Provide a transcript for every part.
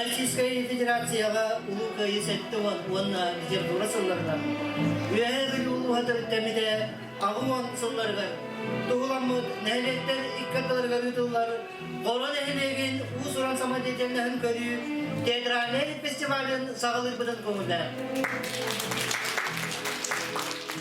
Российскай Федерацияҕа Улуу Кыайыы сэттэ уонна Петербурга сылларынан Үөһээ Бүлүү улууһатын кэмитэ аҕыс уон сылларыгар туһуламмыт нэһилиэктэр икки ардыларыгар ыытыллар Боро нэһилиэгин уус-уран самодеятельноһын көрүү театральнай фестивалын саҕалыырбытын көҥүллэнэр.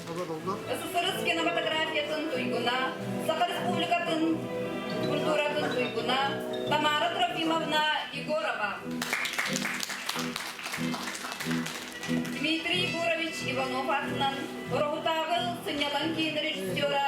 Сахарыскина фотографиятын туйгуна, Саха Республикатын культуратын туйгуна Тамара Трофимовна Егорова. Дмитрий Егорович Иванов атынан Рохутааҕы сынньалаҥ киин режиссера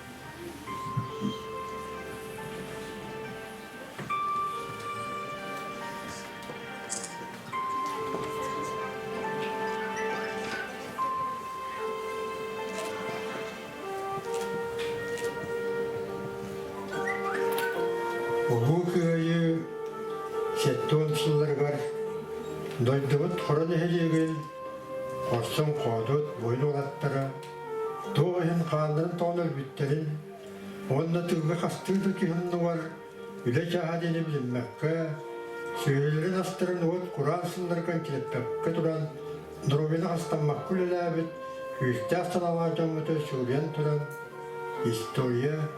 Улуу Кыайыы сэттуон сылларыгар дойдубут Хоро нэһилиэгин хорсун-хоодут буойун уолаттара Туох иһин хаалларын тоҕон өлбүттэрин уонна тылга хастыы да киһи умнугар үлэ чааһа диэни билиммэккэ, сүөһүлэрин астарын уот кураан сыннарган килэппэккэ туран, доруобуйаны хастаммакка үлэлээбит күүстээх санаалаах дьоммуту сылыйан туран история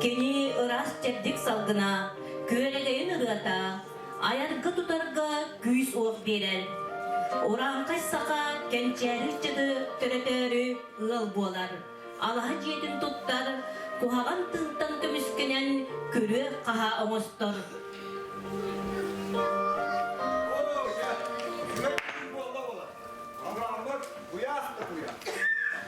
Кини ыраас-чэбдик салгына, күөрэгэйин ырыата, айарга-тутарга күүс-уох биэрэр. Урааҥхай саха кэнчээри ыччаты төрөтөөрү ыал буолар, алаһа дьиэтин туттар, куһаҕан тылтан көмүскэнэн күрүө-хаһа оҥостор. Куйаах да куйаах.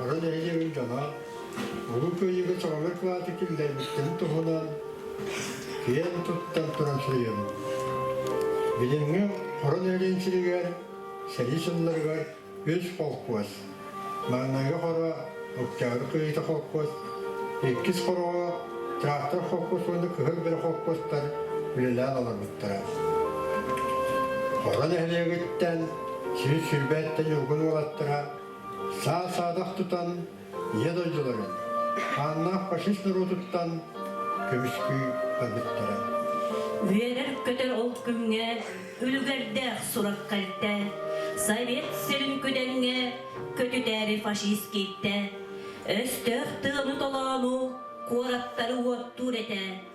Аҕа нэһилиэгим дьоно Улуу Кыайыыга чаҕылҕай кылааты киллэрбиттэрин туһунан киэн туттан туран суруйабын. Билиҥҥи орон эргин сиригэр сэрии сылларыгар үс холкуос, маҥнайгы хоро Октябрь Кыайыыта холкуос, иккис хороҕо Трактор холкуос уонна Кыһыл Бөрө холкуостар үлэлээн олорбуттара. Хоро нэһилиэгиттэн сир сирбэттэн ньулгун уолаттара саа-саадах тутан ийэ дойдуларын, хааннаах фашист норуотуттан көмүскүү барбыттара. Үөрэр-көтөр ол күҥҥэ үлүгэрдээх сураххайта, Совет сирин күдэҥҥэ көтүтээри фашист кииттэ, өстөөх тыаны толоону куораттары уоттуур этэ.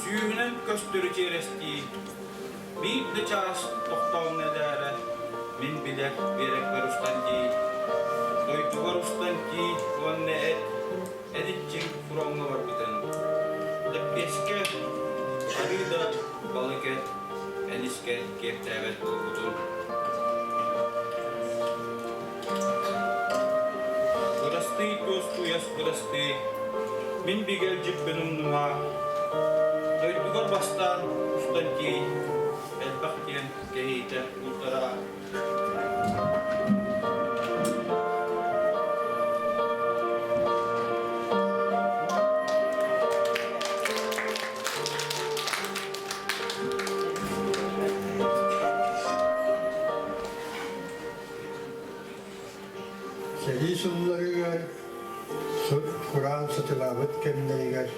Сүүмүнэн көстөрү чиэрэстии, биир да чаас тохтоомно эдээрэ, мин билэр биэрэкпэр устан дии, дойдубар устан дии уонна эт, эдиччиҥ фроҥҥа барбытым. Лэппиэскэ, арыы да балыкет, энискэ киэптээбэт буолбутум. Бырастыы Туостууйас бырастыы, мин бигэлдьиппин умнума, дойдугар бастаан устан тиэй, элбэх диэн кэһиитэ бултара. Сэрии сылларыгар кураан сытылаабыт кэмнэригэр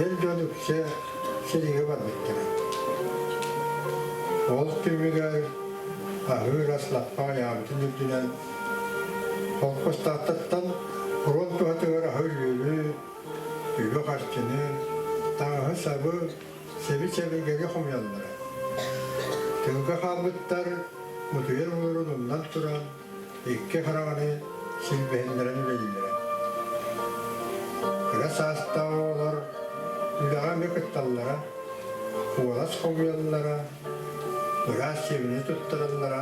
эр дьон үксэ сиригэ барбыттара. Ол түмүгэр аһыыр ас лаппа айаамтын үрдүнэн холкустааттаттан фронт туһатыгар аһы-үөлү, үбү-харчыны, таҥаһы-сабы сэби-сэбилгэги хомуйаллара. Тыылга хаалбыттар мутуйар мунурун умнан туран икки хараҕаны силбэһиннэрэн үлэлииллэрэ. Кыра саастаах оҕолор үлэҕэ эмиэ кытталлара, куолас хомуйаллара, ыраас сиэмини туттараллара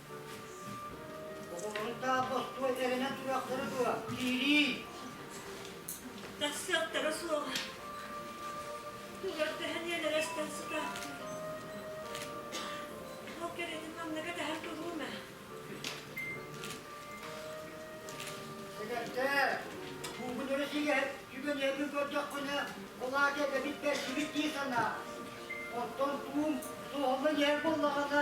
Оҕолоругдаах бостуо эрэнэ туруохтара дуо? Киирии! Тахсыахтара суоҕа. Өлөрдөһөн ийэлэрэ истэн сытаахтыыр. Ол кэриэтин манныга дэһэн туруум ээ. Өлөрдөө, буукунары сииһэр түгэннэрбин көрдөххүнэ, ол аата эбэбит бэрсибит дии санаа. Оттон туум суоһуллан иһэр буоллаҕына,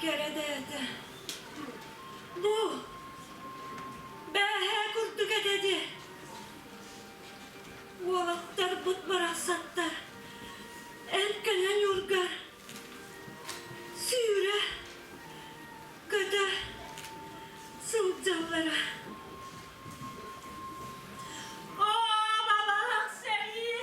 кэрэ бэйэтэ бу бээһээ курдук этэ дии уолаттарбыт барахсаттар эн кэлэ ньургар сүүрэ көтө сылдьаллара оо балаҕан сэрии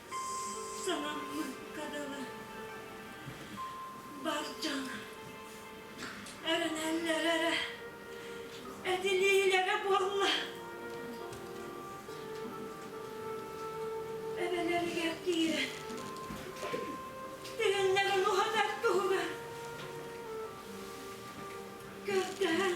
Самаммыкка дылы бар дьон эрэнэллэр эрэ этилиилэрэ буолла эбэлэригэр киирэн тигэннэрин уһанар туһугар көрдөһөн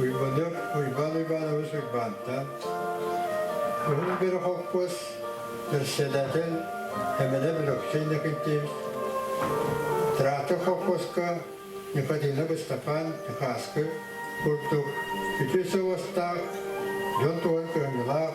Уйбаныап Уйбаан Иванович Уйбаантан Уһун Бөрө холкуос бэссэдээтэл Эмэлэп Өлөксөй Иннокентьевич Трактор холкуоска Никодина Быстапаан Ньухааскы курдук үтүө сыл уостаах, дьон туһун кыһамньылаах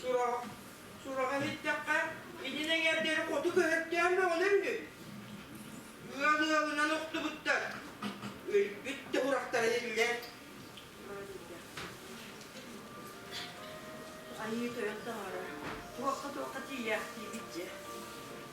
Сурах, сураҕа иһиттэххэ, итин эҥэрдэри оту көһөртөөн бөҕөлөр үһү. Ыал ыалынан охтубуттар. Өлбүт да урахтара иллэр. Айыы тойон таҥара туохха-туохха тиийээхтии бит дьэ.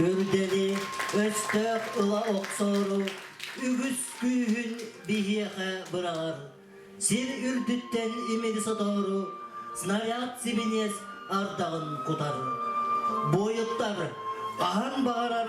Үрдэли өстөөх ыла охсору үгүс күүһүн биһиэхэ быраҕар. Сир үрдүттэн имири сотору снаряд сибиниэс ардаҕын кутар. Буойуттар хаһан баҕарар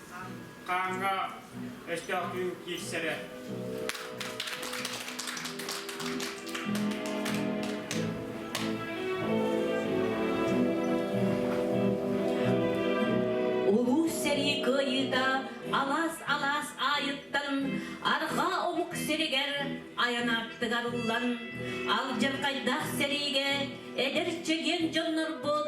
Хааҥҥа өстөөх түүн киирсэрэ. Улуус сэрии кыайыыта алаас-алаас аайыттан арҕаа омук сиригэр айан аартыгар ыллан, алдьархайдаах сэриигэ эдэр чэгиэн дьоннорбут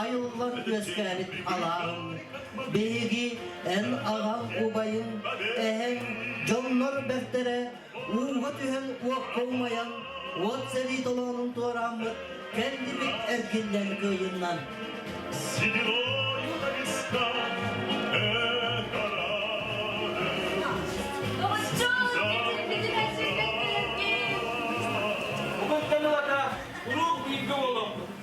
айыллан үөскээбит алааһын, биһиги эн аҕаҥ убайын, эһэҥ, дьоннор бэртэрэ ууга түһэн уокка умайан уот сэрии толоонун туорааммыт кэллибит эргиллэн кыайыннан. Бүгүнтэн аата куруук бииргэ буолуҥ!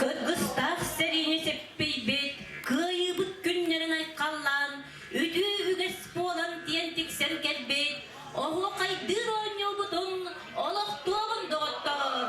Кыргыстаах сэриини сиппийбит, кыайыыбыт күннэрин айхаллаан, үтүү үгэс буолан диэн тиксэн кэлбит, оһуохайдыыр оонньуубутун олохтуоҕун доҕотторум!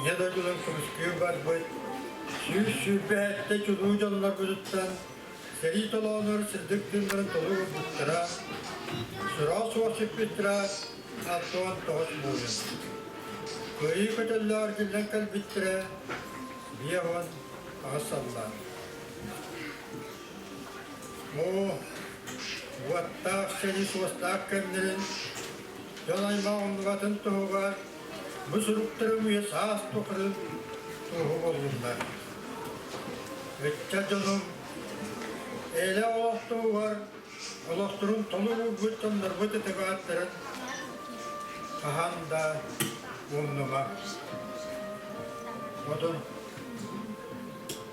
Ийэ дойдунан кырыскыы барбыт сүүс сүүрбэ сэттэ чулуу дьоннорбутуттан сэрии толоонор сырдык тыыннарын толу орбуттара, сыраал суох сүппүттэрэ Антон тоҕус муунун. Кыайыы көтөллөөр күннэн кэлбиттэрэ биэһон аҕыс саллаан. Оо, уоттаах сэрии суостаах кэмнэрин дьон аймах умнубатын туһугар Бу суруктары үйэ саас тухары туруһу буоллуннар. Ыччат дьонум, Ээлэ олохтугар олохторун толук уурбут дьоннорбут ытыгааттарын хаһан да умнума. Модун.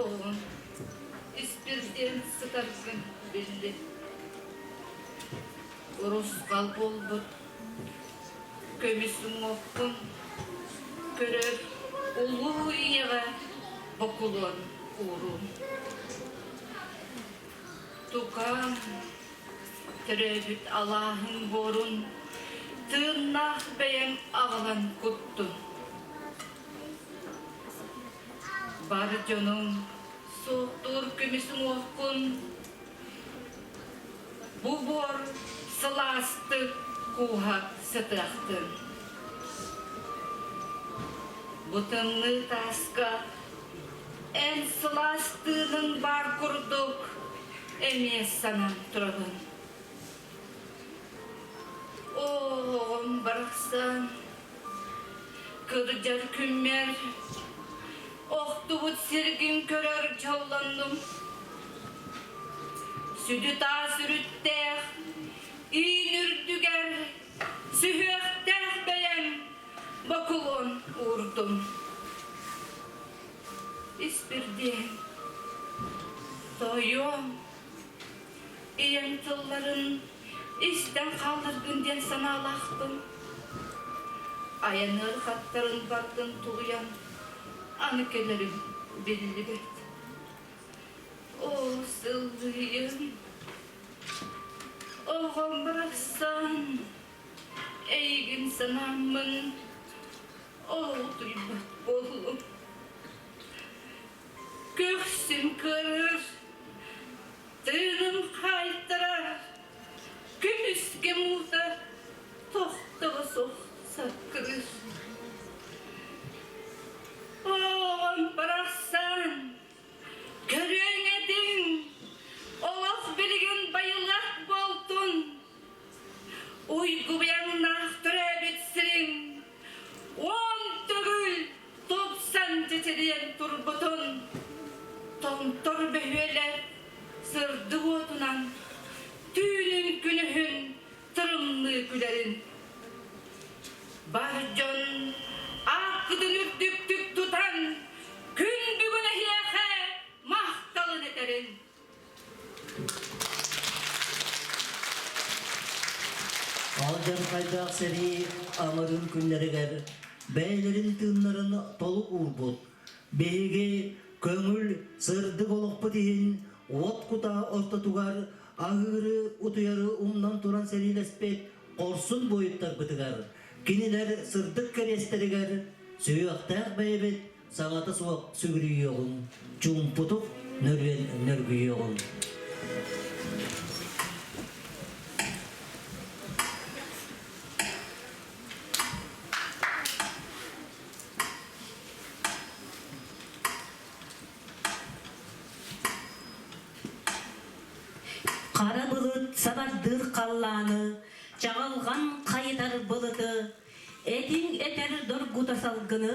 Оҕоҕун испирдиэн сытаргын билли. Урусхал буолбут көмүс уҥуоххун көрөр улуу ийэҕэ бокулуон уурун. Тукаам, төрөөбүт алааһын буорун тыыннаах бэйэҥ аҕалан куттун. Бар дьонум, суохтуур көмүс-уҥуохкун бу буор сылаастык кууһа сытыахтын. Бу тымныы тааска эн сылаас тыыныҥ баар курдук эмиэ санан турабын. Оом барахсан кырдьар күммэр охтубут сиргин көрөр дьоллоннум. Сүдү таас үрүттээх иин үрдүгэр сүһүөхтээх бэйэм бокулон уурдум. Испирдиэн, тоойуом, ийэм тылларын истэн хааларгын диэн санаалаахпын. Айаныр хаттарын баргын тулуйан аны кэлэрим биллибэт. О сыллыйын, оҕом барахсан, эйигин санааммын, ол туйбат буолуо. Көхсүн көрөр, тыыным хаайтарар, күнүскэ муутар, тохтоҕо суох саккыныр. Оон барахсан, көрүөҥ этиҥ, олох билигин байылах буолтун, уйгубуйаҥнаах төрөөбүт сириҥ Уон төгүл тупсан титириэн турбутун Томтор бөһүөлэ сырдык уотунан Түүнүн күнүһүн тырымныы күлэрин. Бар дьон ааккытын үрдүктүк тутан Күн бүгүн эһиэхэ махталын этэрин. алдьархайдаах сэрии амырын күннэригэр бэйэлэрин тыыннарын толук уурбут биһиги көҥүл сырдык олохпут иһин уот кутаа ортотугар аһыыры утуйары умнан туран сэриилэспит хорсун буойуттарбытыгар кинилэр сырдык кэриэстэригэр сүһүөхтээх бэйэбит Саҥата суох сүгүрүйүөҕүҥ, чуумпутук нөргүйүөҕүҥ. Хара былыт сабардыыр халлааны, чаҕылҕан хайытар былыты, этиҥ этэр доргута салгыны,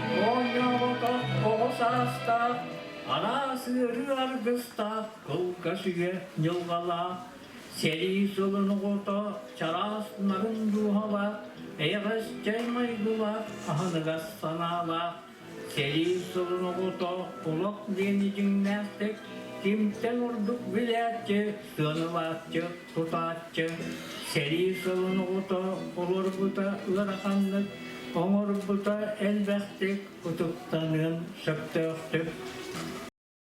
Оонньообото оҕо саастаах, араас ыарыы аргыстаах кылгас үйэ дьылҕалаах, сэрии сылын оҕото чараас нарын дууһалаах, эйэҕэс чэй майгылаах, аһыныгас санаалаах, сэрии сылын оҕото олох диэн итиҥнээхтик, кимтэн ордук билээччи, сыанылааччы Тутааччы сэрии сылын оҕото олорбута ыараханнык, оҥорбута элбэхтик утуктаныан сөптөөхтүк.